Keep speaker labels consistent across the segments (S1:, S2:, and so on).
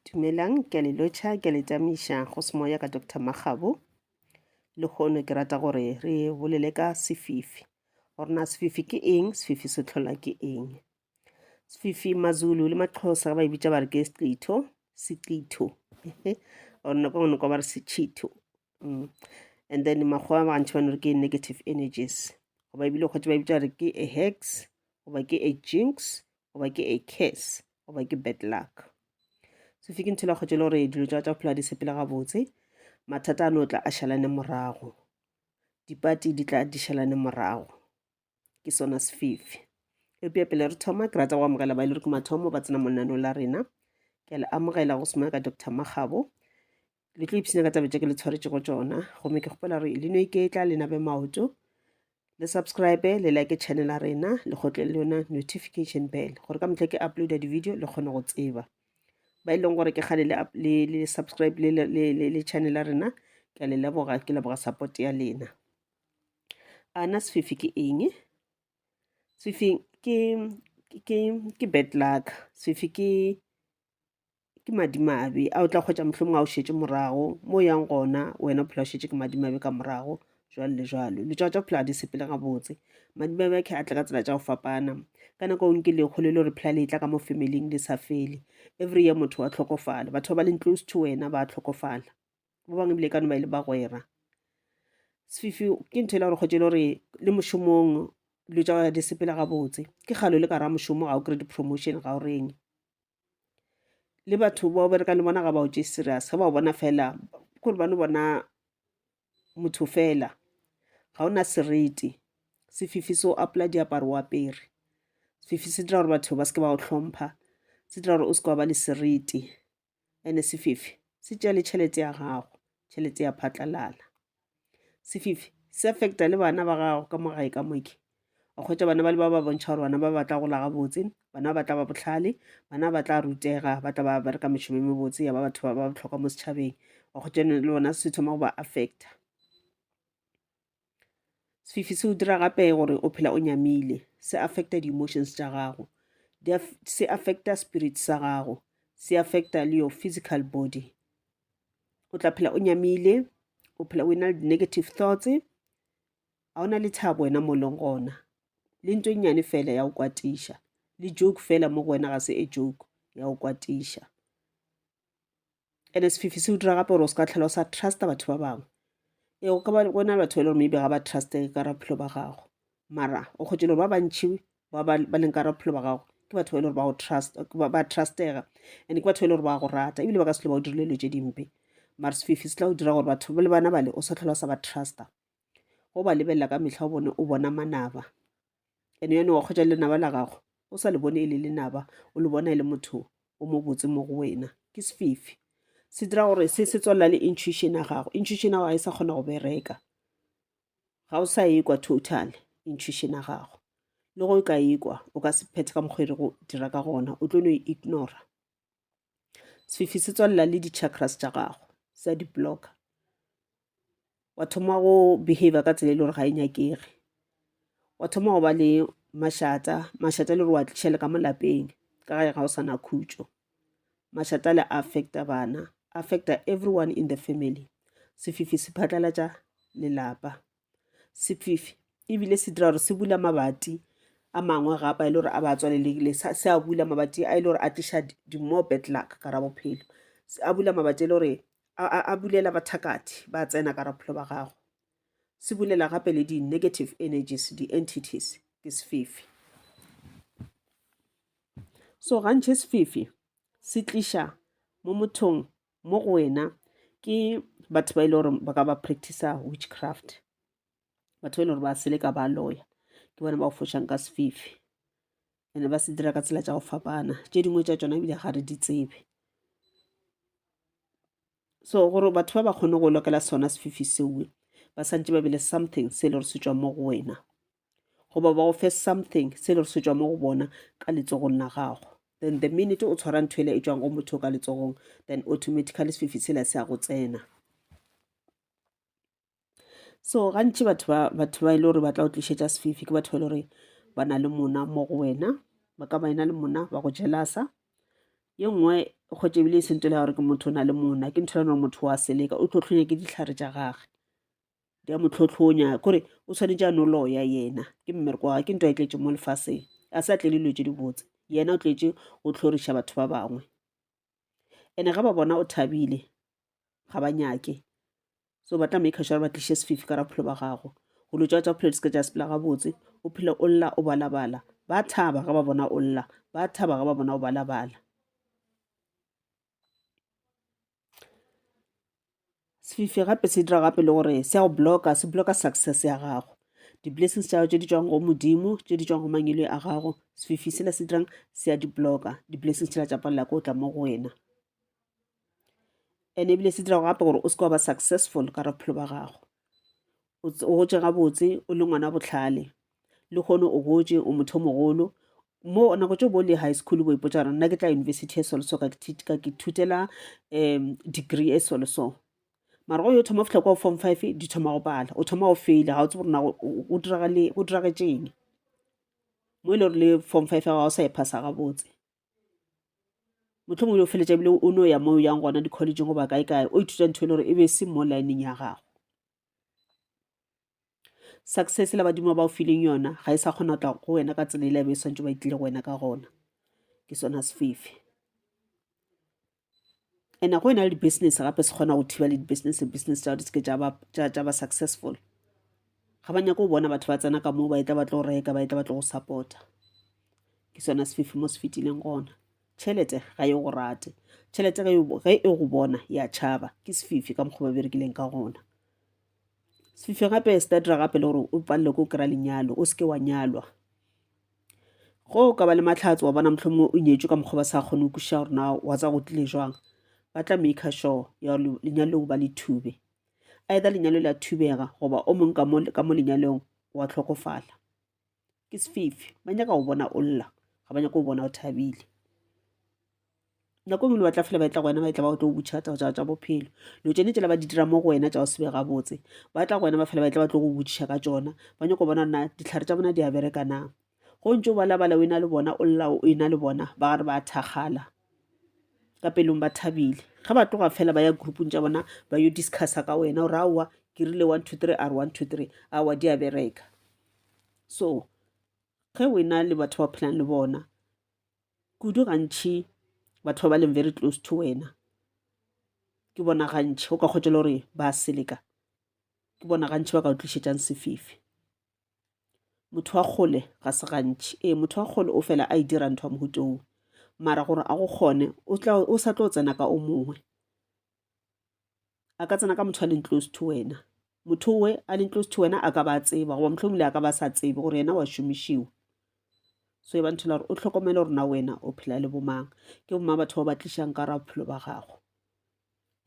S1: Dumelang, ke a le lotšha, ke a le tamiša go semoya ka Dr. Magabo. Le kgono ke rata gore re bolele ka sefifi. Gore na sefifi ke eng, sefifi se tlhola ke eng? Sefifi Mazulu le Maxhosa ba e bitša ba re ke sechitho, sechitho. Or nako nngwe kwa ba re sechitho. Mm. And then makgowa ba gantši ba no re ke negative energies. Goba ebile kgotse ba e bitša ba re ke a hex, goba ke a jinx, goba ke a curse. goba ke bad luck so fike nthela kgwetše le gore dilo tša tša phela di sepele gabotse mathata a no tla a šalane morago dipati di tla di šalane morago ke sona sefifi eupša pele re thoma ke rata go amogela ba e le re ke mathomo ba tsena monaneo la rena ke a le amogela go semaka dr magabo le tlo ipshina ka taba tše ke le tshwaretšego tšona gomme ke kgopela gore le no iketla le nabe maoto le subscribe le like channel ya rena le kgotle le yona notification bell gore ka motlha ke uploada di-video le kgone go tseba ba e leng gore ke kgale le subscribe le channel ya rena ke a le leboga ke leboga support ya lena ana sefifi ke eng sefifi ke ke ke bad luck sefifi ke ke madimabe a o tla kgwetsa mohlomong a o šetše morago mo yang gona wena bophelo o šetše ke madimabe ka morago jwalo le jwalo letšwa tša bophelo ga di sepele gabotse madimabe a khe a tla ka tsela tša go fapana ka nako o nke lekgo le le gore phela le tla ka mo familing le sa fele every year motho wa tlhokofala batho ba ba leng close to wena ba tlhokofala ba bangwe ebile e ka no ba e le bagwera sefifi ke ntho e le gore kgwetse e le gore le mošomong dilo tša gae di sepela gabotse ke kgalo le ka ra mošomo ga o kry di-promotion ga o reng le batho ba o berekang le bona ga ba o je serious ga ba o bona fela kore ba no bona motho fela ga o na serete sefifi se o apola diaparo o apere sefifi se dira gore batho ba seke ba o tlhompha se dira gore o seke wa ba le serete and-e sefifi se tšea le tšhelete ya gago tšhelete ya phatlalala. sefifi se affecta le bana ba gago ka mo gae ka moke o kgwetsa bana ba le ba ba bontšha gore bana ba batla go laga botse bana ba batla ba botlhale bana ba tla rutega ba tla ba bereka mešomo e mebotse ya ba batho ba ba botlhokwa mo setšhabeng wa kgwetsa le bona se thoma go ba affecta sefifi se o dira gape gore o phela o nyamile se affecta di-emotions tša gago se affecta spirit sa gago se affecta le your physical body o tla phela o nyamile o phela o e na le di-negative thoughts ga o na le thabo wena mo leng gona le nto e nnyane fela ya go kwatiša le joke fela mo go wena ga se e joke ya go kwatiša and sefifi se o dira gape gore o se ka tlhela o sa trusta batho ba bangwe ee go ka ba go na le batho ba e le gore maybe ga ba trustege ka raphelo ba gago mara o kgwetše le gore ba bantšhi ba ba leng ka ra bophelo ba gago ke batho ba e le gore ba go trust ba trustega and ke batho ba e le gore ba go rata ebile ba ka se tlho ba o dirile dilo tše dimpe mara sefifi se tla go dira gore batho le bana bale o sa tlhola sa ba trusta go ba lebelela ka metlha o bone o bona manaba and yone wa kgwetša lenaba la gago o sa le bone e le lenaba o le bona e le motho o mo botse mo go wena ke sefifi se dira gore se se tswalela le intuition ya gago intuition ya gago e sa kgona go bereka ga o sa ekwa total intuition ya gago le go ka ekwa o ka se phethe ka mokgwa e re go dira ka gona o tlo no e ignora sefifi se tswalela le di-chakras tša gago sa di-blocker wa thoma go behavior ka tsela e le gore ga e nyakege wa thoma go ba le mašata mašata e le gore wa tliša le ka molapeng ka ga ga o sa na khutšo Mašatale a affecta bana, a affecta everyone in the family. Sefifi se phatlalatša lelapa. Sefifi ebile se dira gore se bula mabati a mangwe gapa e le gore a ba tswalelekile se a bula mabati a e le gore a tliša di-more bad luck ka ra bophelo a bula mabati e le gore a bulela bathakathi ba tsena ka ra bophelo ba gago se bulela gape le di-negative energies di-entities ke sefifi So gantši sefifi se tliša mo mothong mo go wena ke batho ba e le gore ba ka ba practice witchcraft batho ba e le gore ba seleka ba loya ke bona ba go fošang ka sefifi ene ba se dira ka tsela tša go fapana tše dingwe tša tšona ebile ga re di tsebe so gore batho ba ba kgone go lokela sona sefifi sewe ba santse ba be le something se e le gore se tswa mo go wena goba ba go fe something se le gore se tšwa mo go bona ka letsogong la gago then the minute o tshwara ntho ele e tšwang go motho ka letsogong then automatically sefifi sela se ya go tsena so gantši batho ba batho ba e le gore ba tla o tlišetša sefifi ke batho ba e le gore ba na le mona mo go wena ba ka ba ena le mona ba go jelasa ye nngwe go tšebile e sentole ya gore ke motho o na le mona ke ntho ya gore motho wa seleka o tlo tlhonya ke ditlhare tša gage di a motlhotlhonya kore o tshwanetse a no loya yena ke mmereko wa ke nto a tletse mo lefaseng a sa tlele dilo tse dibotse yena o tletse o tlhoriša batho ba bangwe ene ga ba bona o thabile ga ba nyake so ba tla make sure ba tliše sefifi ka rapholo ba gago go lo tsa tsa phelo di seke tsa sepela gabotse o phele o lla o balabala ba thaba ga ba bona o lla ba thaba ga ba bona o balabala sefifi gape se dira gape le gore se ya go blocka se blocka success ya gago di-blessings tša gago tše di tswang go modimo tše di tswang go mangele a gago sefifi sela se dirang se ya di-blocka di-blessings tšela tša palela ko tla mo go wena and ebile se dirago gape gore o se ka wa ba successful ka re bophelo ba gago o gotše gabotse o le ngwana bohlale lehono o gotše o motho mogolo mo nako tso bo le high school bo ipotsa gore nna ke tla university e soloso ka ke thutela um degree e soloso mara go yo thoma fitlha kwa form five di thoma go pala o thoma go faila ga o tsebo rona go diragetseng mo e le gore le form five ga o sa e phasa gabotse motlho mongwe o feletsa ebile o ne o ya mo o yang gona di-collegeng goba kae kae o ithuta ntho e le gore e be se mo lineng ya gago success la badimo ba o fileng yona ga e sa kgona go tla go wena ka tsela e lebe e swantse ba e tlile go wena ka gona ke sona sefefe and go ena le di-business gape se kgona go thiba le di-business business tsa di seke tša ba successful ga ba nyako bona batho ba tsena ka moo ba e tla ba tlo reka ba e tla ba tlo go supporta ke sona sefefe mo se fetileng gona Tšhelete ga e go rate. Tšhelete ge e, e go bona e a tšhaba. Ke sefifi ka mokgwa ba berekileng ka gona. Sefifi gape se tatira gape le gore o palele ko kry-a lenyalo, o seke wa nyalwa. Go ka ba le matlhatso wa bona motlho mongwe o nyetswe ka mokgwa ba sa kgone go kwešiša gore na wa tsa go tlile jwang. Ba tla maker sure ya gore lenyalo leo ba le thube. Either lenyalo le a thubega goba o mongwe ka mo lenyalong wa tlhokofala. ke sefifi ba nyaka go bona o lla ga ba nyaka go bona o thabile nako e ngwe le batla fela ba etla go wena ba etla ba otlo go butšha tsa tsa bophelo lo tsene tsela ba di dira mo go wena tsa go sebe gabotse ba tla go wena ba fela ba etla ba tlo go botšiša ka tsona ba nyako bona na ditlhare tsa bona di a bereka na go ntse o balabala o ena le bona o lla o ena le bona ba gare ba thakgala ka pelong ba thabile ga ba tloga fela ba ya groupong tsa bona ba yo discussa ka wena o re aowa ke rile one two three a re one two three aowa di a bereka so ge o ena le batho ba phelang le bona kudu gantšhi batho ba ba leng very close to wena ke bona gantšhi o ka kgotsa le gore ba seleka ke bona gantšhi ba ka o tlišetsang sefifi motho wa kgole ga se gantšhi ee motho wa kgole o fela a e dira ntho ya mohutong mara gore a go kgone o sa tlo tsena ka o mongwe a ka tsena ka motho a leng close to wena motho we a leng close to wena a ka ba a tseba goba motlhomile a ka ba sa tsebe gore yena wa šomišiwa so e ba nthela gore o tlhokomele gore na wena o phela le bomang ke bomang batho ba ba tlišang ka ra bophelo ba gago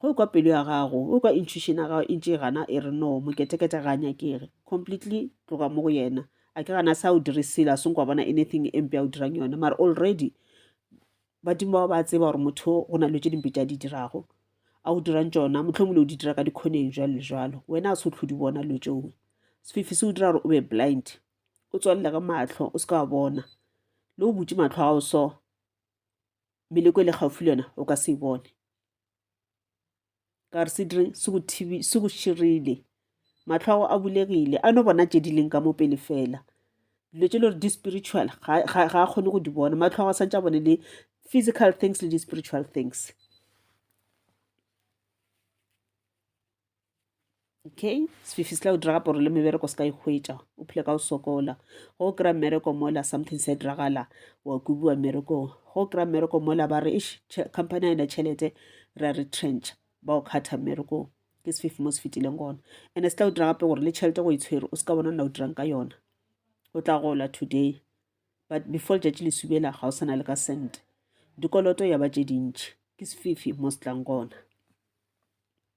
S1: go e kwa pelo ya gago o e kwa intuition ya gago e ntše e gana e re no moketekete ga a nyakege completely tloga mo go yena a ke gana sa o dirisile a seng kwa bona anything e mpe a o dirang yone mara already Badimo bao ba a tseba gore motho go na le tše dimpe tša di dirago, a o dirang tšona, mohlomongwe o di dira ka dikhoneng, jwalo le jwalo. Wena a se o tlhodi bona lo tšowe. Sefifi se o dira gore o be blind, o tswalela ka mahlo, o se ka wa bona. Le o butše mahlo a gago so, meleko e le gaufi le yona, o ka se e bone. ka re se dire se go thibi se go širile matlho a go a bulegile a no bona tše di leng ka mo pele fela dilo tše le gore di-spiritual ga a kgone go di bona matlho a go santse a bone le physical things le di-spiritual things Okay, sefifi se tla o diraga poro le mebereko se ka ikgwetša o phile ka o sokola go o kry-a mmereko mola something se diragala wa kubiwa mmerekong go o kry-a mmereko mola ba re ish company a ena tšhelete re a retrench ba o kgatha mmerekong ke sefifi mo se fetileng gona and-e se tla o dira gape gore le tšhelete go e tshwere o se ka bona nna o dirang ka yona o tla gola today but before letšatši le subela ga o sana le ka cent dikoloto ya ba tše dintšhi ke sefifi mo se tlang gona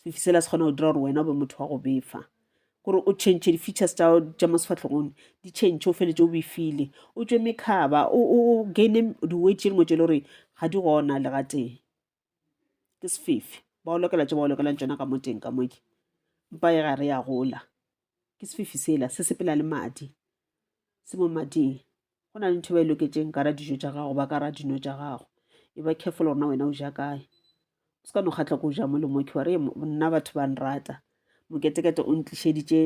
S1: sefifi sela se kgona go dira gore wena o be motho wa go befa gore o change di-features tsa tša mo sefatlhogong di change o feletse o befile o tswe mekhaba o gaine di-wet tše dingwe tše le gore ga di gona le ga teng ke sefefe ba o lokela tše ba o lokelang tsona ka mo teng ka moke mpa e ga re ya gola ke sefifi sela se sepela le madi se mo mading go na le ntho e ba e loketseng ka ra dijo tša gago ba ka ra dino tša gago e ba careful gorena wena o ja kae o se ka no kgatlha ko o ja mo le moke ware nna batho ba nrata moketekete o ntlišeditše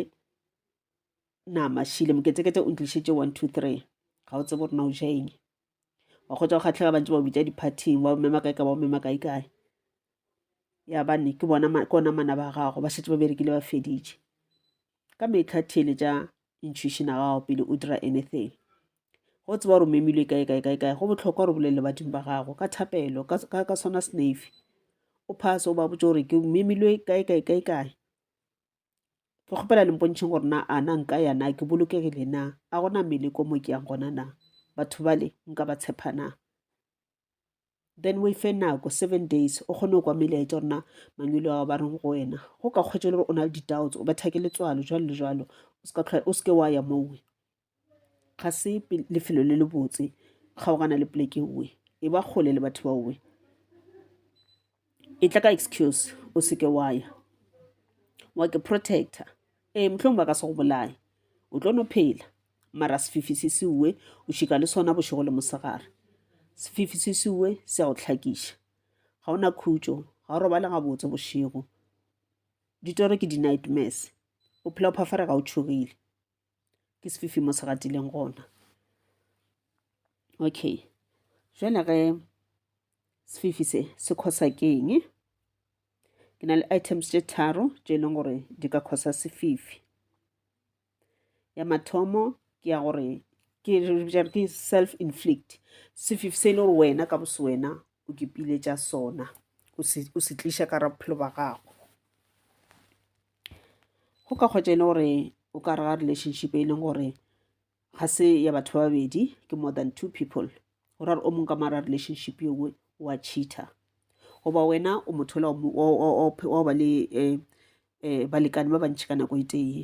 S1: nama šile moketekete o ntlišeditše one two three ga o tsebe gorena o ja eng wa kgotsa go kgatlhega bantse ba o bitsa di-partyng ba o mema kae ka ba o mema kae kae ya bane ke bona ke ona mana ba gago ba setse ba berekile ba feditše ka metlha thele tša intuition a gago pele o dira anything go tseba gore o memilwe kae kae kae kae go botlhokwa gore bolelele badimo ba gago ka thapelo ka sona snafe o phase o ba botse gore ke memilwe kae kae kae kae ke kgopela le mpontšheng gore na a na nka ya na ke bolokegile na a gona mele ko mo ke yang gona na batho bale nka ba tshepa na then o ife nako seven days o kgone go kwa melaetša gore na mangwele ao ba reng go wena go ka kgwetsa le gore o na le di-doubts o betha ke letswalo jalo le jalo o seke wa ya mowe ga se lefelo le le botse kgaogana le poleke nngwe e ba kgole le batho ba owe e tla ka excuse o seke wa ya wa ke protector ee mohlong ba ka se go bolaye o tlo no phela mara sefifi se se uwe o šika le sona bošego le mosegare sefifi se se uwe se ya go tlhakiša ga o na khutšo ga o robale gabotse bošego ditoro ke di-nightmares o phela o phafarega o tšhogile ke sefifi mo se gatileng gona okay jwale ge sefifi se se khosa keng ke na le items tše tharo tše e leng gore di ka khosa sefifi ya mathomo ke ya gore ke ke self inflict sefifi se e le gore wena ka bose wena o kepile tša sona o se tliša ka ra bophelo ba gago Go ka kgotša e le gore o ka re ga relationship e leng gore ga se ya batho ba babedi ke more than two people go ra gore o mongwe ka mara relationship yo nngwe wa cheater goba wena o motho ola wa ba le um balekane ba bantšhi ka nako e tee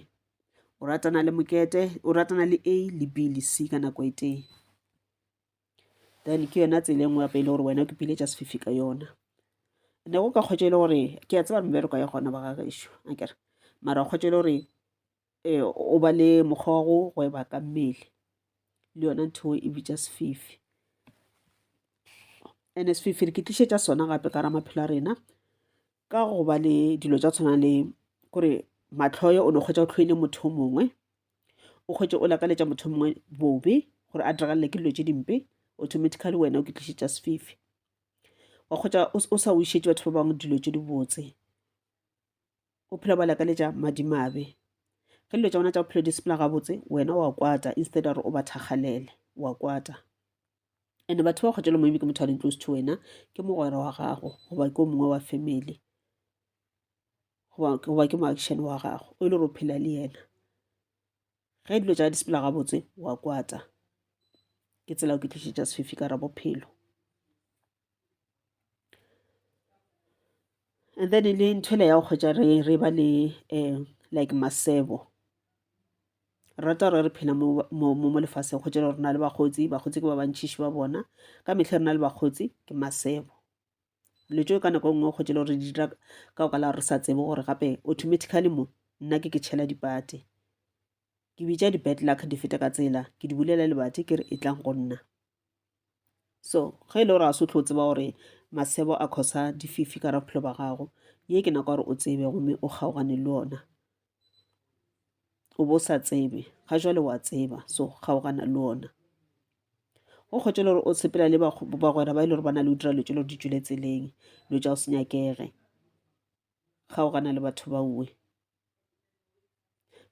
S1: o ratana le mokete o ratana le a le b le c ka nako e tee then ke yona tsela e nngwe gape e le gore wena o ipiletša sefifi ka yona ne go ka kgwetša e le gore ke a tseba mebereko ya gona ba ga gešo akere mara o kgwetša e le gore um o ba le mokgwa wa go gweba ka mmele le yona ntho e bitša sefifi and-e sefifi re ke tlišetša sona gape ka ra maphelo a rena Ka go ba le dilo tša tshwana le kore mahloyo o no kgwetsa o tlhoile motho o mongwe, o kgwetše o lakaletša motho o mongwe bobe gore a diragalela ke dilo tše dimpe, automatically wena o ke tlišetša sefifi. Wa kgwetsa o sa wišetše batho ba bangwe dilo tše dibotse, o phela ba lakaletša madimabe. Ge dilo tša bona tša bophelo di sepela gabotse wena wa kwata instead ya gore o ba thakgalele, wa kwata. and batho ba kgotšelo maybe ke motho a leng close to wena ke mogwera wa gago goba ke o mongwe wa family goba ke moaction wa gago o e le gore o phela le yena ge dilo tša di sepela gabotse wa kwata ke tsela o ke tlišetša sefifi ka ra bophelo And then e le ntho ele ya go kgwetša re re ba le like masebo, re rata gore re phela mo lefaseng kgwetša e le gore re na le bakgotsi, bakgotsi ke ba bantšintši ba bona. Ka mehla re na le bakgotsi ke masebo, dilo tšeo ka nako e nngwe o kgwetša e le gore re di dira ka baka la gore re sa tsebe gore gape automatically mo nna ke ke tšhela dipate. Ke bitša di-bad luck di fete ka tsela, ke di bulela lebati ke re e tlang go nna. So, ge e le gore a se o tlo tseba gore masebo a khosa dififi ka ra bophelo ba gago ye ke nako gore o tsebe gomme o kgaogane le ona o bo sa tsebe ga jwale wa tseba so kgaogana le ona go kgotse le gore o sepela le bagwera ba e le gore ba na le o dira lo tse le gore di tswile tseleng lo tsa o se nyakege kgaogana le batho ba uwe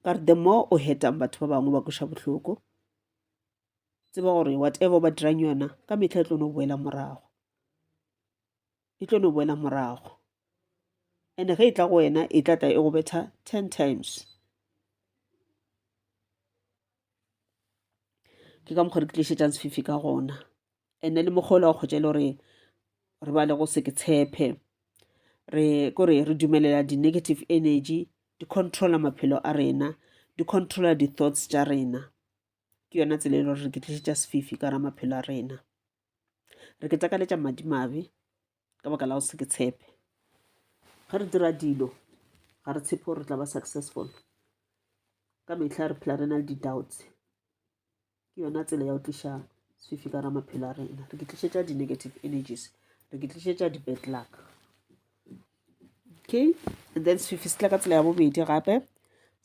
S1: ka re the more o hetang batho ba bangwe ba kweša bohloko tseba gore whatever ba dirang yona ka mehla e tlo no boela morago e tlo no boela morago and ge e tla go wena e tlatla e go betha ten times ke ka mokgwa re ke tlišetsang sefifi ka gona ene le mokgolo wa kgotsa e le gore re ba le go se ke tshepe re kore re dumelela di-negative energy di controla maphelo a rena di controla di-thoughts tša rena ke yona tsela e le gore re ke tlišetša sefifi ka ra maphelo a rena re ke takaletša madimabe ka baka la go se ke tshepe ga re dira dilo ga re tshepe gore re tla ba successful ka metlha re phela re na le di-doubts ke yona tsela ya go tliša sefifi ka ra maphelo a rena re ke tlišetša di-negative energies re ke tlišetša di-bad luck okay then sefifi se tla ka tsela ya bobedi gape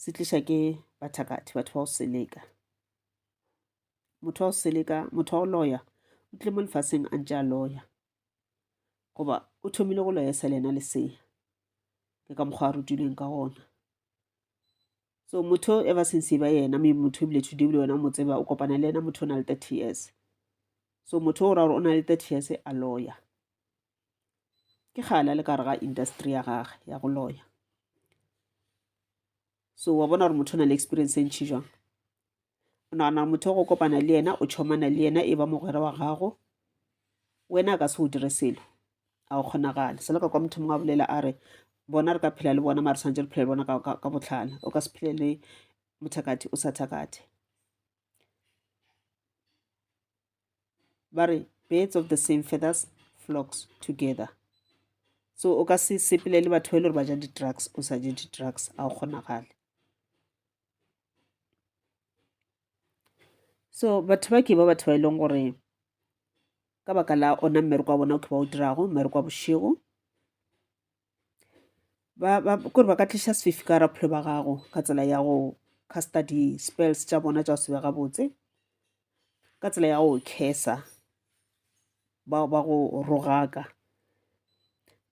S1: se tliša ke bathakathi batho ba go seleka motho wa go seleka motho wa go loya o tlile mo lefaseng a ntse a loya goba o thomile go loya e sa le ena lesea ke ka mokgwa a rutilweng ka gona so motho e ba seng seba yena me motho ebile today ebile wena o mo tseba o kopana le ena motho o na le thirty years so motho o ra gore o na le thirty years a loya ke kgale a le ka gare ga industry ya gage ya go loya so wa bona gore motho o na le experience e ntšhi jwang o nagana motho o go kopana le yena o tšhomana le yena e ba mogwera wa gago wena a ka se o dire selo a o kgonagale selo ka kwa motho mongwe a bolela a re bona re ka phela le bona mare tshwanetse re phela le bona ka botlhala o ka se phele le mothakati o sa thakathe ba re birds of the same feathers flocks together so o ka se sepelele batho ba e le gore ba ja di-drugs o sa je di-drugs a o kgonagale so batho ba ke ba batho ba e leng gore ka baka la ona mmereko wa bona o ke ba o dirago mmereko wa bošego kore ba ka tliša sefifi ka raphelo ba gago ka tsela ya go casta di-spells tša bona tša go sebe gabotse ka tsela ya go kesa bao ba go rogaka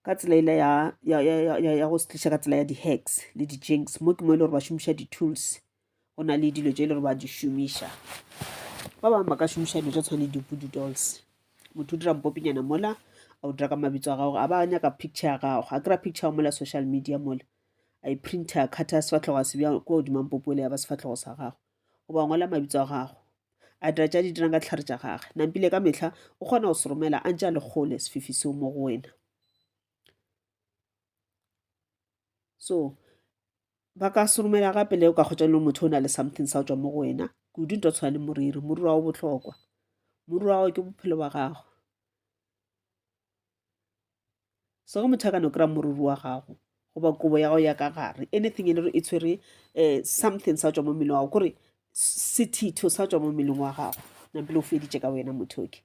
S1: ka tsela ele ya go se tliša ka tsela ya di-hacks le di-jinx mo ke mo e le gore ba šomiša di-tools go na le dilo tse e le gore ba di šomiša ba bangwe ba ka šomiša dilo tsa tshwane dipudu dolls motho o dira mpopinyana mola a o dira ka mabitso a gago a ba nyaka picture ya gago a kry-a picture ya mola social media mola a e printer a kgatha sefatlhogo a sebja ko godima mpopo ele ya ba sefatlhogo sa gago goba ngola mabitso a gago a dira tša di dirang ka ditlhare tša gage nampile ka metlha o kgona go se romela a ntse a le kgole sefifi seo mo go wena so ba ka se romela gape le o ka kgotsa le motho o na le something sa tswa mo go wena kudu nto tshwana le moriri moriri wa go botlhokwa moriri wa gago ke bophelo ba gago so ge motho a ka no kry-a moriri wa gago goba kobo ya gago ya ka gare anything e le re e tshwere um something sa tswa mo mmeleng wa gago kore sethitho sa tswa mo mmeleng wa gago nampele o feditše ka wena motho oke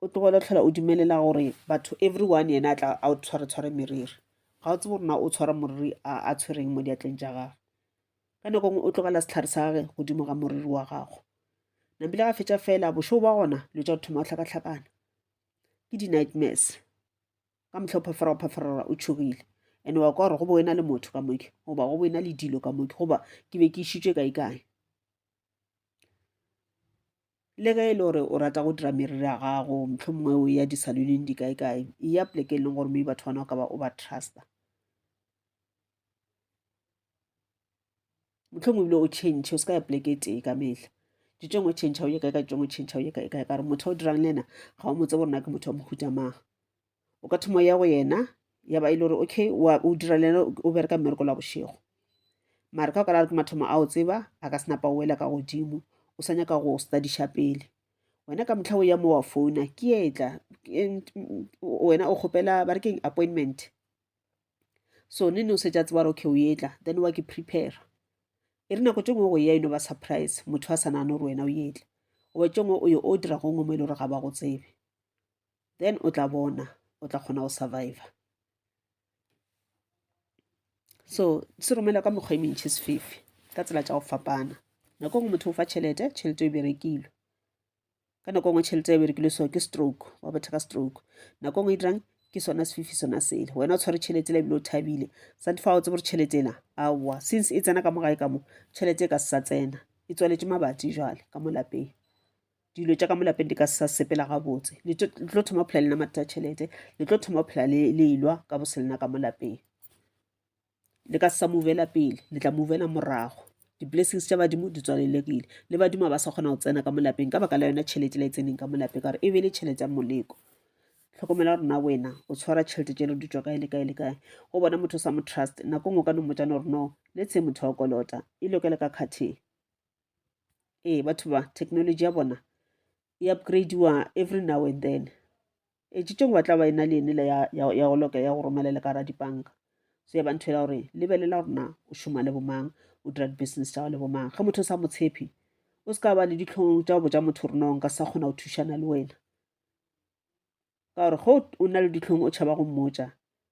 S1: o tlogele tlhola o dumelela gore batho everyone yena a tla a o tshwaretshware meriri ga o tsebe gore na o tshwara moriri a tshwereng mo diatleng tša gagwe ka nako ngwe o tlogela setlhare sa gage godimo ga moriri wa gago nabile ga fetša fela bošoo ba gona lo tša go thoma go hlakahlakana ke di-nightmares ka motlha o phafara o phafarara o tšhogile and wa kwa gore go bo wena le motho ka moke goba go bo wena le dilo ka moke goba ke be ke išitšwe kae kae le ge e le gore o rata go dira meriri ya gago motlho mongwe o ya disaloneng di kae kae e ya poleke e leng gore mme batho bana o ka ba o ba trusta motlho mongwe ebile o change o se ka ya poleke e tee ka mehla ditšong o change o ye kae ka ditšong o change o ye kae kae ka gore motho o dirang le ena ga o mo tsebo rena ke motho wa mohuta mang o ka thoma ya go yena ya ba e le gore okay o dira le o bereka mmereko la bošego mare ka o ka la re ke mathomo a o tseba a ka senapa o wela ka godimo o sa nyaka go studiša pele wena ka motlha o ya mo wa founa ke etla wena o kgopela ba re keng appointment so ne ne o setša tseba gore okay o etla then wa ke prepare e re nako tše ngwe go ya eno ba surprise motho a sa nagane gore wena o etla goba tše ngwe o yo o dira gongwe mo e le gore ga ba go tsebe then o tla bona o tla kgona go survivor so se romela ka mekgwa e mentšhi sefefe ka tsela tša go fapana nako ngwe motho o fa tšhelete tšhelete e berekilwe ka nako ngwe tšhelete e berekilwe so ke stroke wa botha ka stroke nako ngwe e dirang ke sona sefifi sona sele wena o tshware tšhelete la ebile o thabile sante fa o tsebo gore tšhelete ela aowa since e tsena ka mo gae ka mo tšhelete e ka se sa tsena e tswaletše mabati jale ka mo lapeng dilo tša ka mo lapeng di ka se sa sepela gabotse le tlo thoma go phela le na mathata a tšhelete le tlo thoma go phela le ilwa ka bo se lena ka mo lapeng le ka se sa movela pele le tla movela morago di-blessings tša badimo di tswalelekile le badimo ba sa kgona go tsena ka mo lapeng ka baka la yona tšhelete la e tseneng ka mo lapeng ka gore e be le tšhelete ya moleko tlhokomela gore na wena o tshwara tšhelete tšelo di tswa kae le kae le kae go bona motho o sa mo trust nako ngwe o ka no mmotsa no gore no le tshe motho wa kolota e lokele ka kgatheng ee batho ba technology ya bona e upgradeiwa every now and then e tšitšong ba tla ba e na le ene le ya go loka ya go romela le ka ra dipanka so ya ba ntho ela gore lebelela gore na o šoma le bomang o dira di-business tša go le bomang ge motho o sa mo tshepi o se ka ba le ditlhong tša go botša motho gore nong ka sa kgona go thušana le wena ka gore ge o na le ditlhong o tšhaba go mmotša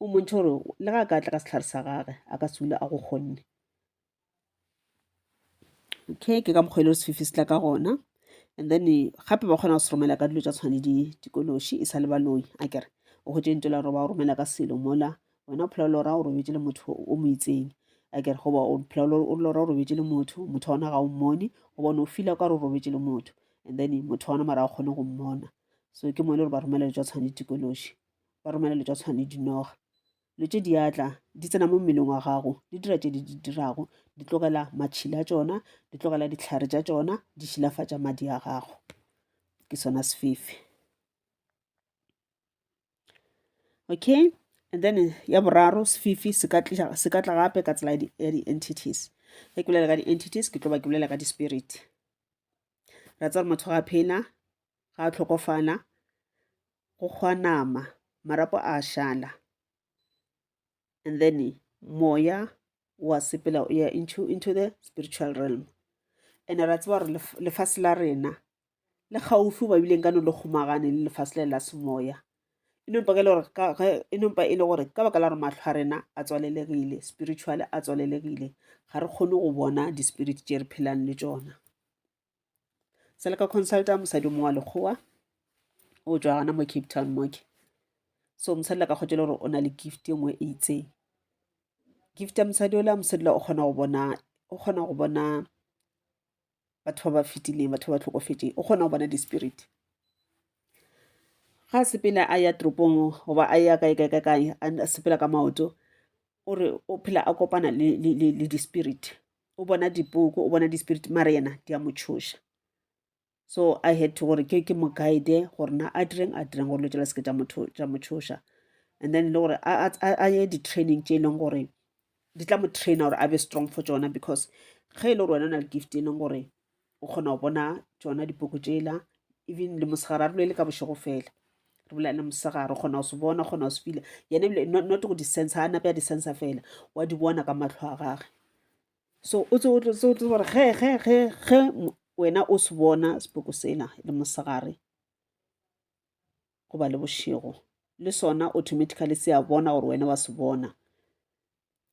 S1: o mmontšha gore le ga a ka tla ka setlhare sa gage a ka sula a go kgonne okay ke ka mokgwa e le sefifi se tla ka gona and then gape ba kgona go se romela ka dilo tsa tshwane di dikološi e sa le baloi a kere o go tšentse la gore ba romela ka selo mola wena o phela lora o robetse le motho o mo itseng a kere goba o phela o lora o robetse le motho motho wa ona ga o mmone goba o ne o fila ka re o robetse le motho and then motho wa ona mara a kgone go mmona so ke mo e le gore ba romela dilo tsa tshwane di dikološi ba romela le tša tshwane dinoga le tše diatla di tsena mo mmeleng wa gago di dira tše di di dirago di tlogela matšhila a tšona di tlogela dihlare tša tšona di šilafatša madi a gago ke sona sefefe okay and then ya boraro sefefe se ka tla gape ka tsela ya di-entities ge ke bolela ka di-entities ke tlo ba ke bolela ka di-spirit ra tsa gore motho ga a phela ga a tlhokofala go kgwa nama marapo a šala and then moya wa sepela o ya into, into the spiritual realm and ra tseba gore lefase la rena le gaufi ba bileng ka no le kgomagane le lefase le la semoya e nompa e e le gore ka baka la gore matlho a rena a tswalelegile spiritual a tswalelegile ga re kgone go bona di-spirit tše re phelang le tšona se le ka consulta mosadi mongwe wa lekgowa o tswa gana mo cape town moke so mosadi la ka kgotse le gore o na le gift e nngwe e itseng gift ya mosadi ola mosadi la o kgona go bona o kgona go bona batho ba ba fetileng batho ba ba tlhokofetseng o kgona go bona di-spirit ga sepele a ya toropong goba a ya kae kae ka kae a sepela ka maoto o re o phela a kopana le di-spirit o bona dipoko o bona di-spirit mara yena di a mo tšhoša so i had to gore ke ke mo guide gore na a direng a direng gore lo tšela seke tša mo tšhoša and then e le gore a ye di-training tše e leng gore di tla mo traina gore a be strong for tsona because ge e le gore wena o na le gift e leng gore o kgona go bona tšona dipoko tšela even le mosegare a re bolele ka bošego fela re bolelele mosegare o kgona go se bona o kgona go se fila yena ebile not go di-sense a nape ya di-sense fela wa di bona ka matlho a gage so o tse o tlo tse o tlo gore ge ge ge ge wena o se bona sepoko sela le mosegare goba le bošego le sona automatically se a bona gore wena wa se bona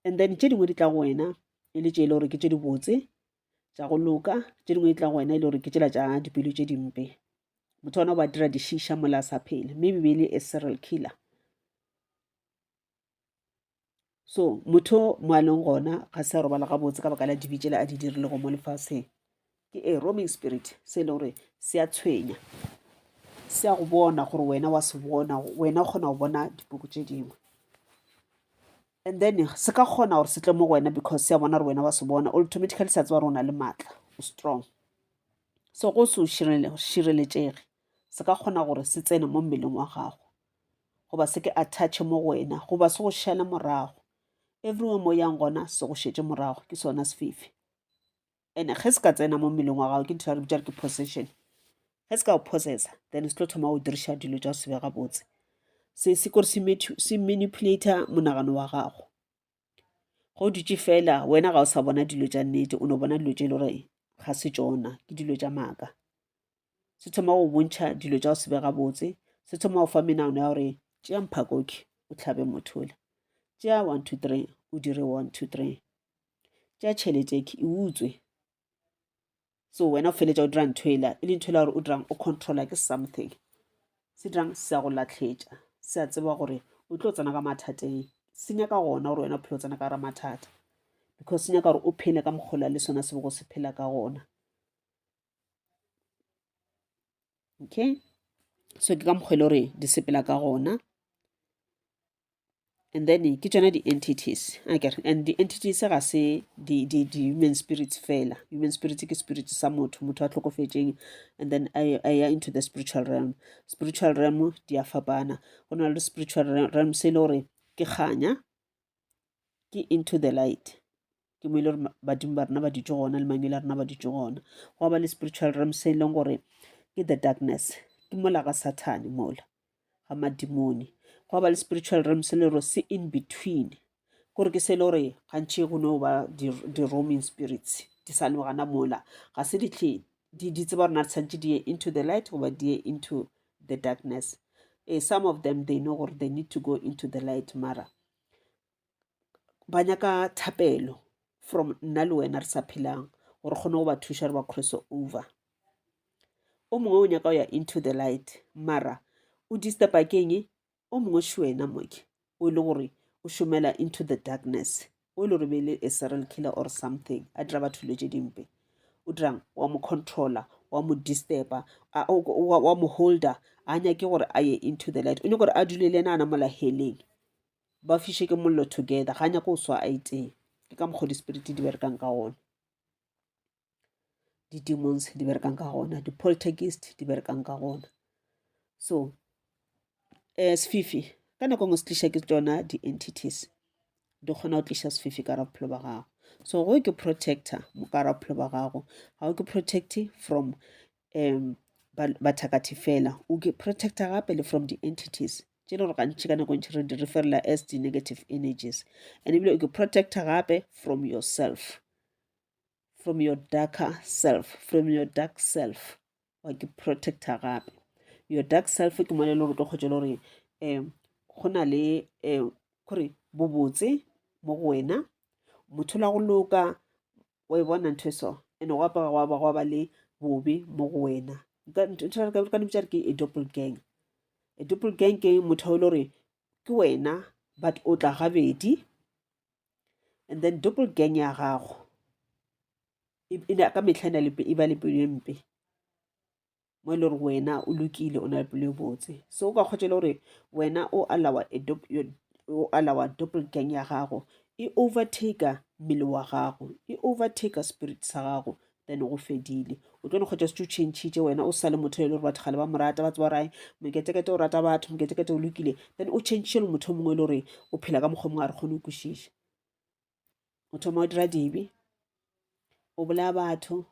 S1: and then tše dingwe di tla go wena e le tše e le gore ke tše dibotse tša go loka, tše dingwe di tla go wena e le gore ke tšela tša dipelo tše dimpe. Motho ona o ba dira dišiša mola a sa phele, mme bibele e serial killer. So motho mo a leng gona ga se a robala gabotse ka baka la dibi tšela a di dirile go mo lefaseng. Ke a roaming spirit se e le gore se a tshwenya, se a go bona gore wena wa se bona, wena o kgona go bona dipoko tše dingwe. And then se ka kgona gore se tle mo go wena because se a bona gore wena wa se bona automatically sa tseba gore o na le maatla o strong so go se o šireletšege se ka kgona gore se tsene mo mmeleng wa gago goba se ke attache mo go wena goba se go šale morago everywhere mo yang gona se go šetse morago ke sona sefifi and ge se ka tsena mo mmeleng wa gago ke ntho ya re bitša re ke possession ge se ka go possessa then se tlo thoma go diriša dilo tša go sebe gabotse se se kore se manipulator monagano wa gago go dutše fela wena ga o sa bona dilo tša nnete o no bona dilo tše e le gore ga se tsona ke dilo tša maaka se thoma go bontšha dilo tša go sebe gabotse se thoma go fa menagano ya gore tšea mphakoke o tlhabe mothole tšea one two three o dire one two three tša tšhelete e utswe so wena o feletša o dira ntho ela e le ntho ela gore o dirang o controla ke something se dirang se ya go latlhetša se a tseba gore o tlo tsena ka mathateng se nyaka gona gore wena o phele o tsena ka gara mathata because se nyaka gore o phele ka mokgola le sona se bego se phela ka gona okay so ke ka mokgwa e le gore di sepela ka gona and then ke tsona di-entities aker and di-entities ga se di-human spirits fela human spirit ke spirit sa motho motho a tlhokofetseng and then a ya into the spiritual realm spiritual realm di a fapana go na le spiritual realm se e le gore ke kganya ke into the light ke mo e le gore badimo ba rena ba ditso gona le mangwele a rena ba ditso gona go ba le spiritual realm se e leng gore ke the darkness ke mola ga sathane mola ga madimone go ba le spiritual realm se le gore se in between kore ke se e le gore gantšhi go no ba di-roaming spirits di sa le gana mola ga se ditlhe di di tseba gore na tshwanetse di ye into the light goba di ye into the darkness eh, some of them they know gore they need to go into the light mara ba nyaka thapelo from nna le wena re sa phelang gore kgone go ba thuša re ba cross over o mongwe o nyaka go ya into the light mara o disturba keng o mongwe še wena moke o e le gore o šomela into the darkness o e le gore be e le a serial killer or something a dira batho dilo tše dimpe o dirang wa mo controller wa mo disturba wa mo holder a nyake gore a ye into the light o nyake gore a dule le ena a namola heleng ba fiše ke mollo together ga nyako o swa a itee ke ka mokgwa dispiriti di berekang ka gona di-demons di berekang ka gona di-poltergist di berekang ka gona so um eh, sefifi ka nako ngwe se tliša ke tsona di-entities di kgona go tliša sefifi ka rabophelo ba gago so go ke protector mokara bophelo ba gago ga o ke protect from um bathakathi fela o ke protecta gape le from di-entities tše le gore gantši ka nako ntši re di referela as di-negative energies and ebile o ke protecta gape from yourself from your darker self from your dark self wa ke protecta gape your dark self ke mone e le gore tlo kgotse le gore um go na le um kore bobotse mo go wena motho la go loka wa e bona ntho e so ene go apara gwa ba gwa ba le bobe mo go wena ka dipitsa ke e doppel gang e doppel gang ke motho e le gore ke wena but o tla gabedi and then doppel gang ya gago e ka metlha e ba le pelo e mpe mo e le gore wena o lokile o na le pelo e botse so o ka kgotsa le gore wena o alawa o alawa doppel gang ya gago e overtaker mmele wa gago e overtaker spirit sa gago then go fedile o tlo ne kgotsa se tse o changitše wena o sa le motho e le gore batho gale ba mo rata ba tseba gore moketekete o rata batho moketekete o lokile then o changitše le motho o mongwe e le gore o phela ka mokgwa mongwe a re kgone o kwešiša o thoma o dira dibe o bolaya batho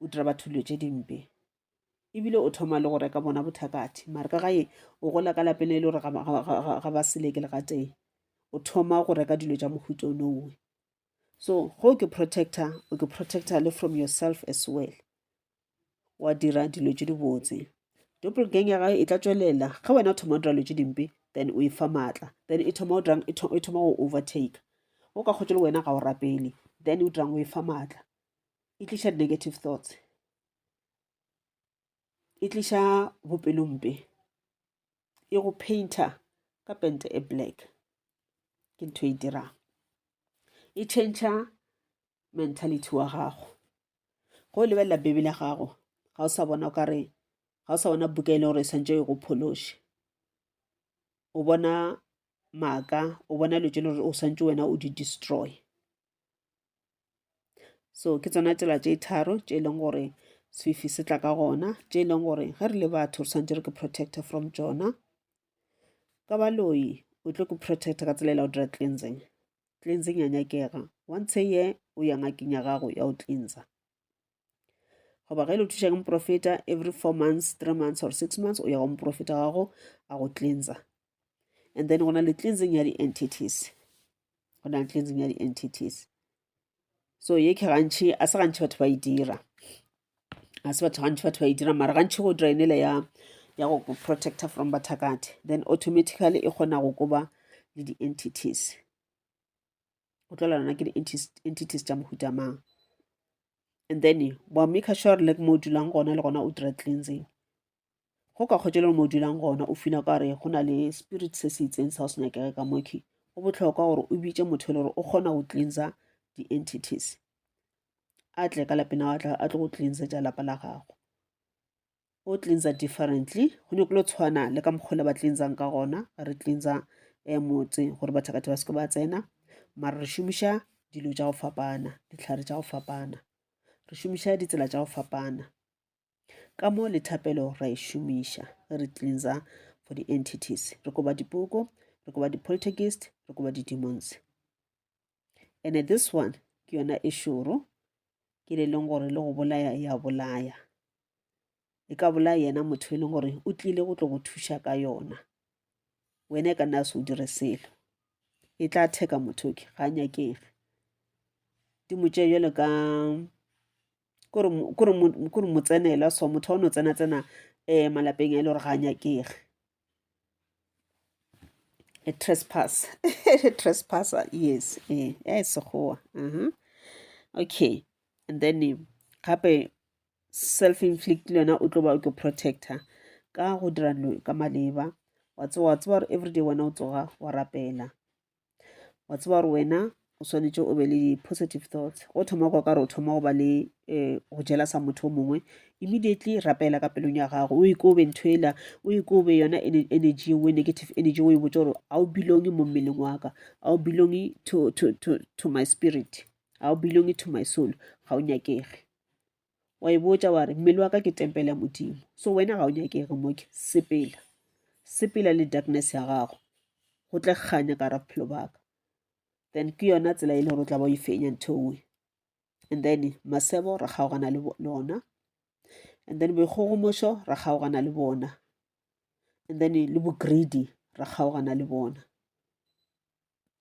S1: o dira batho dilo tše dimpe ebile o thoma le go reka bona bothakathi mare ka gae o gola ka lapeng e le gore ga ba seleke le gatee o thoma go reka dilo tša mohuta o nowe so go ke protector o ke protector le from yourself as well wa dira dilo tše dibotse doppel gang ya gae e tla tswelela ge wena o thoma o dira dilo tše dimpe then o e fa maatla then e thoma e thoma go overtake o ka kgotse le wena ga o rapele then o dirang o e fa maatla e tliša di-negative thoughts e tliša bopelompe e go painter ka pente e black ke ntho e dirang e change mentality wa gago go lebelela bebe la gago ga o sa bona o kare ga o sa bona buka e le gore e swantse e go phološe o bona maaka o bona dilo tse le gore o swantse wena o di destroy So ke tsona tsela tše tharo tše e leng gore sefifi se tla ka gona, tše e leng gore ge re le batho re tshwanetse re ke protector from tsona. Ka baloi o tlo ke protector ka tsela e la go dira cleansing. Cleansing ya nyakega, once a year o ya ngakeng ya gago ya go cleansa. goba ge le thuša ke moprofeta every four months three months or six months o ya go moprofeta gago a go cleansa and then go na le cleansing ya di-entities go na le cleansing ya di-entities so ye ke gantšhi a se gantšhi batho ba e dira a se batho gantšhi batho ba e dira mara gantšhi go drainele ya ya go protecta from bathakati then automatically e kgona go koba le di-entities go tlola lona ke di-entities tša mohuta mang and then wa maker sure le mo dulang gona le gona o dira cleansing go ka kgotse le mo dulang gona o fina ka gore go na le spirit se se itseng sa go se nyakege ka moki go botlhokwa gore o bitse motho e le gore o kgona go cleansa di-entities a tle ka lapena a tlo go cleansetsa lapa la gago o cleansa differently go nyoko lo tshwana le ka mokgole ba cleansang ka gona ga re cleansa um motse gore bathakatha ba seke ba tsena mara re šomiša dilo tša go fapana ditlhare tša go fapana re šomiša ditsela tša go fapana ka mo le thapelo ra e šomiša ge re cleansa for di-entities re koba dipoko re koba di-poltergeist re koba di-demons ene this one ke yona e šoro ke le leng gore le go bolaya ya bolaya e ka bolaya yena motho e leng gore o tlile go tlo go thuša ka yona wena e ka nna se o dire selo e tla theka motho ke ga nyakege di mo tšee jalo ka kore mo tsenela so motho wa no tsena tsena um malapeng a e le gore ga nyakege a trespass a trespasser yes eh ya e sekgowa mhm okay and then eh, gape self inflict le yona o tlo ba o ke protector ka go dira dilo ka maleba wa tsewa wa tsewa gore everyday wena o tsoga wa rapela wa tseba gore wena o swanetše o be le di-positive thoughts go thoma kwa ka re o thoma go ba le um go jela sa motho o mongwe immediately rapela ka pelong ya gago o ikobe ntho ela o ikobe yona energy eo negative energy o e botse gore a o belonge mo mmeleng wa ka a o belonge to, to, to, to my spirit a o belonge to my soul ga o nyakege wa e botša wa re mmele wa ka ke tempele ya modimo so wena ga o nyakege moke sepela sepela le darkness ya gago go tle kganya ka ra bophelo baka then ke yona tsela e le gore o tla ba o e fenya ntho nngwe and then masebo ra kgaogana le lona and then boikgogomošo ra kgaogana le bona and then le bogreedy ra kgaogana le bona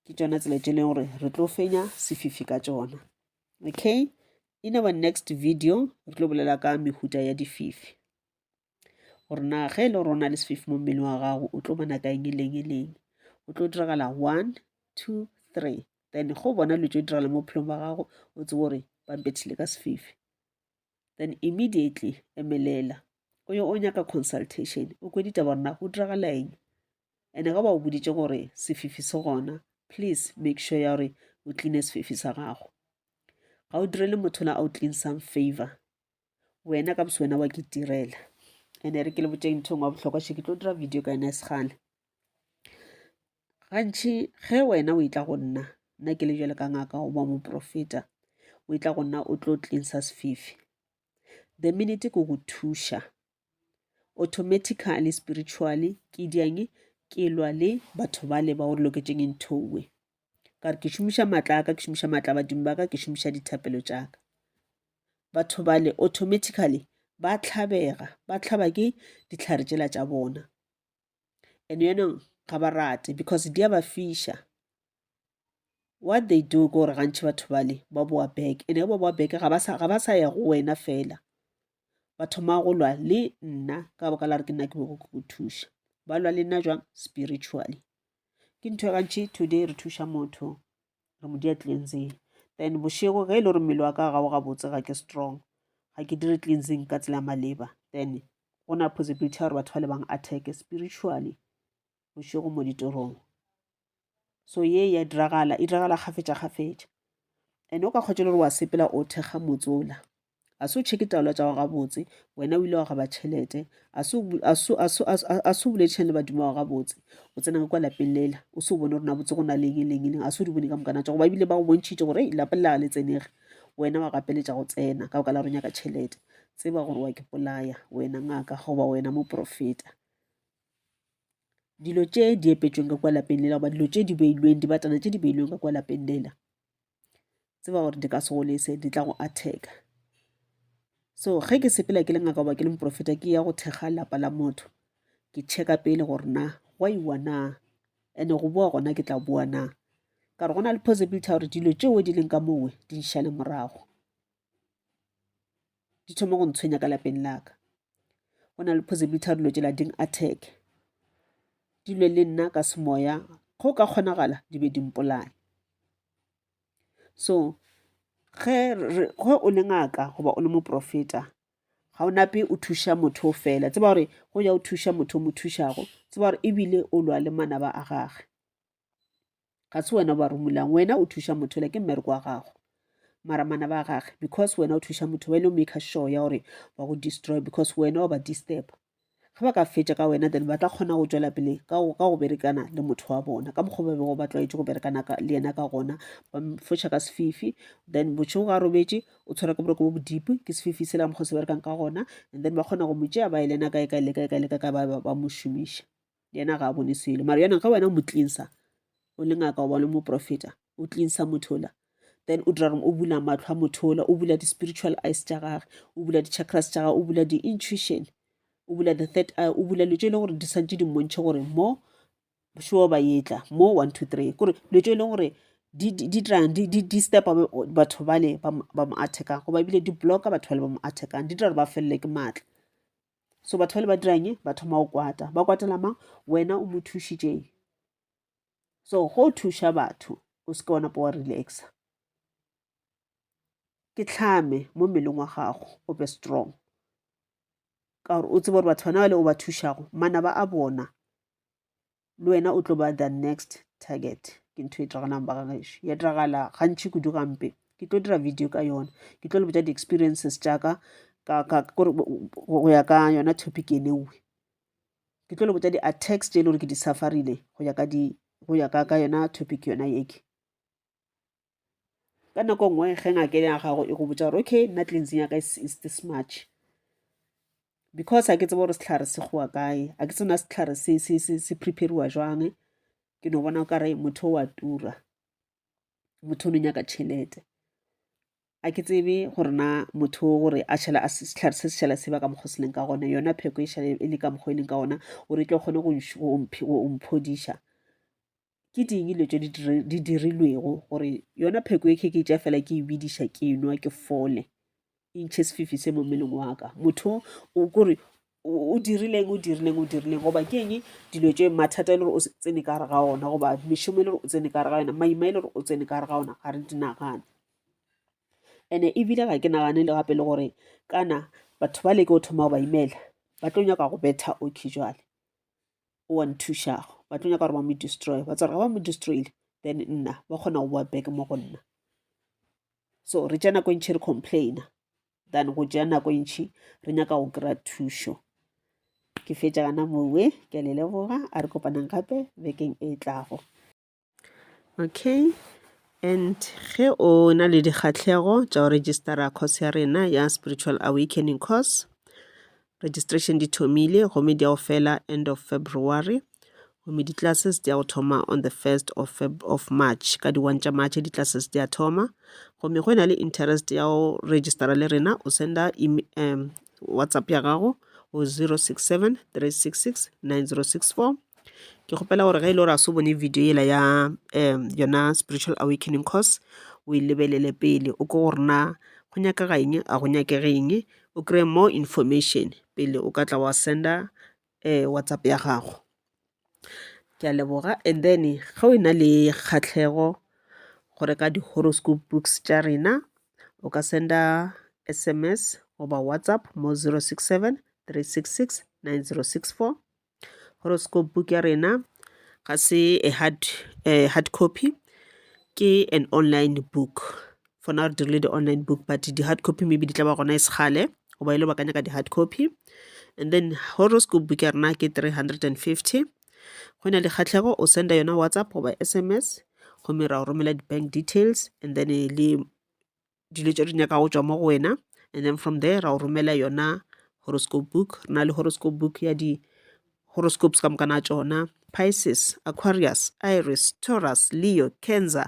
S1: ke tšona tsela tše e leng gore re tlo fenya sefifi ka tšona okay in our next video re tlo bolela ka mehuta ya dififi gore na ge e le gore o na le sefifi mo mmeleng wa gago o tlo bona ka eng e leng e leng o tlo diragala one two three then go bona dilo tse diragala mo bophelong ba gago o tsebo gore ba mpethile ka sefifi then immediately emelela o yo o nyaka consultation o kwe ditaba gore na go diragala eng ene ga ba o boditše gore sefifi se gona please make sure ya gore o cleane sefifi sa gago ga o direle motho la o clean some favor wena ka bose wena wa ke direla ene re ke le botšeng nthong wa bohlokwa še ke tlo dira video ka yona e segale gantšhi ge wena o e tla go nna nna ke le bjale ka ngaka goba moprofeta o e tla go nna o tlo cleansa sefifi the minute ke go thuša automatically spiritually ke diang ke lwa le batho ba le ba gore loketšeng ntho nngwe ka re ke šomiša maatla a ka ke šomiša maatla badimo ba ka ke šomiša dithapelo tša ka batho ba le automatically ba tlhabega ba tlhaba ke ditlhare tšela tša bona and yanong ga ba rate because di a ba fiša what they do ke gore gantšhi batho bale ba boa back and ge ba boa back ga ba sa ya go wena fela ba thoma go lwa le nna ka baka la re ke nna ke bego ke go thuša ba lwa le nna jwang spiritually ke ntho e gantšhi today re thuša motho re mo dia cleansing then bošego ge e le gore mmele wa ka ga o gabotse ga ke strong ga ke dire cleansing ka tsela ya maleba then go na possibility ya gore batho ba le bang attack spiritually bošego mo ditorong so ye ya diragala e diragala kgafetša kgafetša and o ka kgotse le gore wa sepela o thekga motsola a se o cheke taolo tša go gabotse wena o ile wa gaba tšhelete a se o boledišane le badimo wa gabotse o tsena ka kwa lapeng lela o se o bone gore na botse go na leng e leng e leng a se o di bone ka mokana tša go ba ebile ba go bontšhitše gore lapa le laga le tsenege wena wa gapeletša go tsena ka boka la ronya ka tšhelete tseba gore wa ke polaya wena ngaka goba wena moprofeta dilo tše di epetsweng ka kwa lapeng lela goba dilo tše di beilweng dibatana tše di beilweng ka kwa lapeng lela tseba gore di ka se go lese di tla go atheka so ge ke sepela ke le ngaka goba ke le moprofeta ke ya go thekga lapa la motho ke checka pele gore na go iwa na and-e go boa gona ke tla boa na ka re go na le possibility ya gore dilo tšeo di leng ka mowe di nšale morago di thoma go ntshwenya ka lapeng laka go na le possibility ya dilo tšela ding attack di lwe le nna ka semoya go ka kgonagala di be di mpolaye so ge o le ngaka goba o le moprofeta ga o nape o thuša motho o fela tseba gore go ya o thuša motho o mo thušago tseba gore ebile o lwa le manaba a gage ga se wena o ba romulang wena o thuša motho le ke mmereko wa gago mara mana ba gage because wena o thuša motho wena o make sure ya gore ba go destroy because wena wa ba disturb ge ba ka fetša ka wena then ba tla kgona go tšwela pele ka go berekana le motho wa bona ka mokgwa ba bego ba tlwaetše go berekana le yena ka gona ba foša ka sefifi then bošego ga robetše o tshwara ke boroko bo bodipi ke sefifi sela mokgwa se berekang ka gona and then ba kgona go mo tšea ba e lena kae kae le kae kae le kae kae ba mo šomiša yena ga a bone selo mara yena ge wena o mo tlinsa o le ngaka oba o le moprofeta o tlinsa motho ola then o dira reng o bula matlho a motho ola o bula di-spiritual eyes tša gage o bula di-chakras tša gage o bula di-intuition o bula the third eye o bula dilo tse e leng gore di santse di mmontšhe gore mo sure ba etla mo one two three kore dilo tse e leng gore di dirang di stepa batho bale ba mo attackang goba ebile di blocka batho bale ba mo attackang di dira gore ba felele ke maatla so batho bale ba dirang ba thoma go kwata ba kwatela mang wena o mo thušitšeng so go thuša batho o se ke wa napa wa relaxa ke tlhame mo mmeleng wa gago o be strong ka gore o tsebe gore batho bana bale o ba thušago manaba a bona le wena o tlo ba the next target ke ntho e tragalang ba gagešo ya tragala gantši kudu gampe ke tlo dira video ka yona ke tlo le botsa di-experiences tšaka go ya ka yona topic e lewe ke tlo le botsa di-attacks tše e le gore ke di-safarile go ya ka yona topic yona yeke ka nako e nngwe ge ngake ya gago e go botsa gore okay nna cleansing ya ka is this much because a ke tsebe gore setlhare se gowa kae a ke tsena setlhare se prepariwa jwang ke no bona o kare motho wa tura motho o no nyaka tšhelete a ke tsebe gore na motho gore a šhela a setlhare se se šhela se ba ka mokgwa se leng ka gona yona pheko e šhale e le ka mokgwa e leng ka gona gore e tle kgone go mphodiša ke ding dilo tše di dirilwego gore yona pheko e kheke tša fela ke e bediša ke nwa ke fole intšhe sefifi se mo mmeleng wa ka motho o kore o dirileng o dirileng o dirileng goba ke eng dilo tše mathata e le gore o tsene ka gare ga ona goba mešomo e le gore o tsene ka gare ga yona maima e le gore o tsene ka gare ga ona ga re di nagane and-e ebile ga ke nagane le gape le gore kana batho ba leke go thoma go ba imela ba tlo nyaka go betha okay jale o wa nthušago ba tlo nyaka gore ba mo destroy ba tsware ga ba mo destroyile then nna ba kgona go boa back mo go nna so re tša nako e ntšhi re complaina than go tšea nako e ntšhi re nyaka go kry-a thušo ke fetša gana mowe ke a le leboga a re kopanang gape bekeng e tlago Okay, and ge o na le dikgatlhego tša go registera course ya rena ya spiritual awakening course, registration di thomile gomme di a go fela end of February gomme di-classes di a go thoma on the first of Feb of March, ka di one tša March di-classes di a thoma. Gomme go e na le interest ya go registera le rena o senda WhatsApp ya gago go zero six seven three six six nine zero six four. ke kgopela gore ge e le gore a se o bone video yela ya um yona spiritual awakening course o e lebelele pele o ko gore na go nyakega eng a go nyakege eng o kry-e more information pele o ka tla wa send-a um WhatsApp ya gago ke a leboga and then ge o e na le kgahlego go reka di-horoscope books tša rena o ka send-a S_M_S goba WhatsApp mo zero six seven three six six nine zero six four. Horoscope book ya rena ga se a hard hard copy ke an online book for now re dirile di-online book but di-hard copy maybe di tla ba gona e se kgale goba e le ba ka nyaka di-hard copy. And then Horoscope book ya rena ke three hundred and fifty, ge o na le kgahlego o send-a yona WhatsApp goba S_M_S gomme ra go romela di-bank details and then le dilo tše re nyaka go tšwa mo go wena and then from there ra o romela yona horoscope book re na le horoscope book ya di horoscopes ka mokana tšona pisces aquarius iris taurus leo cancer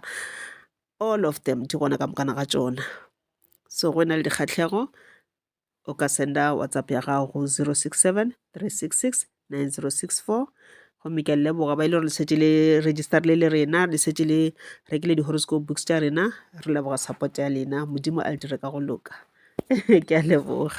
S1: all of them di gona ka mokana ga tšona so go na le dikgatlhego o ka senda whatsapp ya gago go 067 366 9064 gomme ke a leboga ba ile gore le šetše le register le le rena le šetše le rekile di-horoscope books tša rena re leboga support ya lena modimo a le dire ka go loka ke a leboga